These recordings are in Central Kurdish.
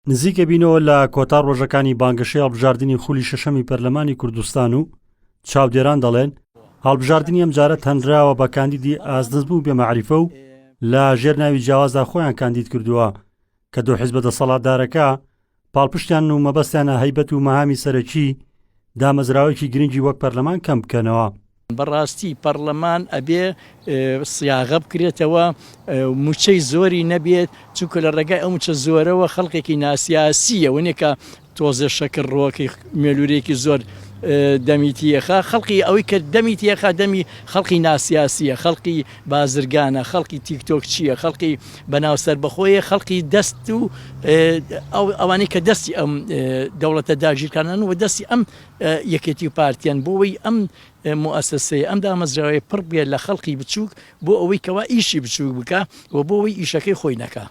نزیک ئەبینەوە لە کۆتا ڕۆژەکانی بانگەشەی هەڵبژاردنی خولی شەشەمی پەرلەمانی کوردستان و چاودێران دەڵێن هەڵبژاردنی ئەم جارە تەنراوە بە کاندیدی ئازدەزم و بێمەعریفە و لە ژێر ناوی جیاوازدا خۆیان کاندید کردووە کە دوو حیزبە دەسەڵاتدارەکە پاڵپشتیان و مەبەستیانە هەیبەت و مەهامی سەرەکی دامەزراوەیەکی گرنگی وەک پەرلەمان کەم بکەنەوە بەڕاستی پەڕلەمان ئەبێ سیاغە بکرێتەوە و موچەی زۆری نەبێت چونکە لە ڕێگای ئەو موچە زۆرەوە خەڵکێکی ناسیاسیە ونێکە تۆزێ شەکر ڕۆکی مێلورێکی زۆر دەمی تیەخە خەڵکی ئەوەی کە دەمی تیەخە دەمی خەڵکی ناسیاسیە خەڵکی بازرگانە خەڵکی تیکتۆک چییە خەڵکی بەناو سەر بەخۆیە خەڵکی دەست و ئەوانەی کە دەستی ئەم دەوڵەتە داگیرکانن و دەستی ئەم یەکێتی و پارتیان بۆ وەی ئەم موئەسەسەیە ئەم دامەزراوەیە پڕ بێ لە خەڵقی بچووک بۆ ئەوەی کەوا ئیشی بچووک بکا و بۆ وەی ئیشەکەی خۆی نەکا.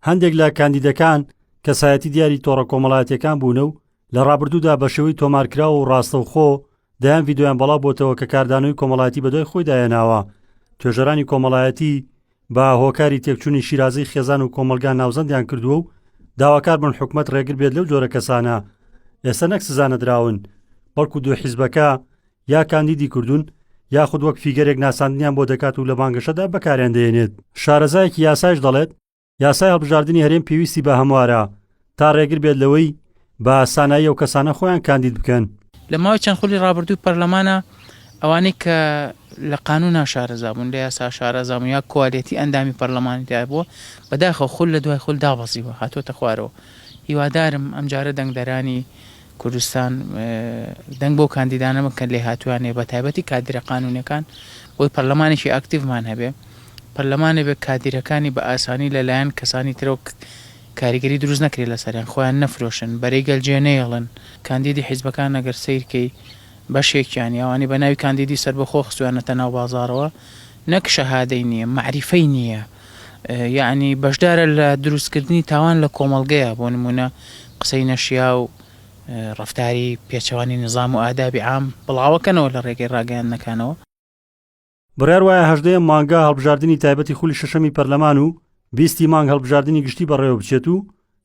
هەندێک لە کاندیدەکان کەسایەتی دیاری تۆڕە کۆمەڵایەتیەکان بوونە و لە ڕابردوودا بە شێوەی تۆمارکراو و ڕاستەوخۆ دەیان ڤیدۆیان بەڵاو بۆتەوە کە کاردانەوەی کۆمەڵایەتی بەدوای خۆیدا هێناوە توێژەرانی کۆمەڵایەتی بە هۆکاری تێکچوونی شیرازەی خێزان و کۆمەلگا ناوزەندیان کردووە و داواکار بن حکومەت ڕێگر بێت لەو جۆرە کەسانە ئێستا نەک سزا نەدراون بەڵکو دوو حیزبەکە یا کاندیدی کردوون یاخود وەک فیگەرێک ناساندنیان بۆ دەکات و لە بانگەشەدا بەکاریان دەێنێت شارەزایەکی یاسایش دەڵێت یاسای هەڵبژاردنی هەرێم پێویستی بە هەموارە تا ڕێگر بێت لەوەی بە سانایی ئەو کەسانە خۆیان کاندید بکەن. لە ماوەی چەند خولی ڕابردووی پەرلەمانا ئەوانەی کە لە قانونا شارەزا بوون، لە یاسا شارەزا بوون یا کوالیتی ئەندامی پەرلەمانی تیا بووە، بەداخەوە خول لە دوای خول دابەزیوە هاتووەتە خوارەوە. هیوادارم ئەمجارە دەنگدەرانی کوردستان دەنگ بەو کاندیدانە بکەن لێهاتوویان هەیە بەتایبەتی کادیرە قانونیەکان بۆی پەرلەمانێکی ئاکتیڤمان هەبێ پەرلەمانێ بێ کادیرەکانی بە ئاسانی لەلایەن کەسانی ترەوە کاریگەری دروست نەکرێت لەسەریان خۆیان نەفرۆشن بەرەی گەل جێ نەیەڵن کاندیدی حیزبەکان ئەگەر سەیر کەی بەشێکیانی ئەوانەی بەناوی کاندیدی سەربەخۆ خستویانەتە ناو بازاڕەوە نەک شەهادەی نیە مەعریفەی نیە یەعنی بەشدارە لە دروست کردنی تاوان لە کۆمەڵگەیە بۆ نمونە قسەی نەشیاو ڕەفتاری پێچەوانی نزام و ئادابی عام بڵاوەکەنەوە لە ڕێگەی ڕاگەیاندنەکانەوە. بڕیار وایە هەژدەیەم مانگە هەڵبژاردنی تایبەتی خولی شەشەمی پەرلەمان و بیستی مانگ هەڵبژاردنی گشتی بەڕێوە بچێت و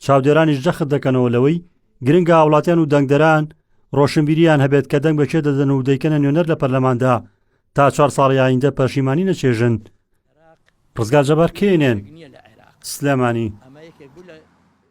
چاودێرانیش جەخت دەکەنەوە لەوەی گرنگە هاوڵاتیان و دەنگدەران ڕۆشنبیریان هەبێت کە دەنگ بەکێ دەدەن و دەیکەنە نوێنەر لە پەرلەماندا تا چوار ساڵی ئایندە پەشیمانی نەچێژن ڕزگار جەبار کێنێن سلێمانی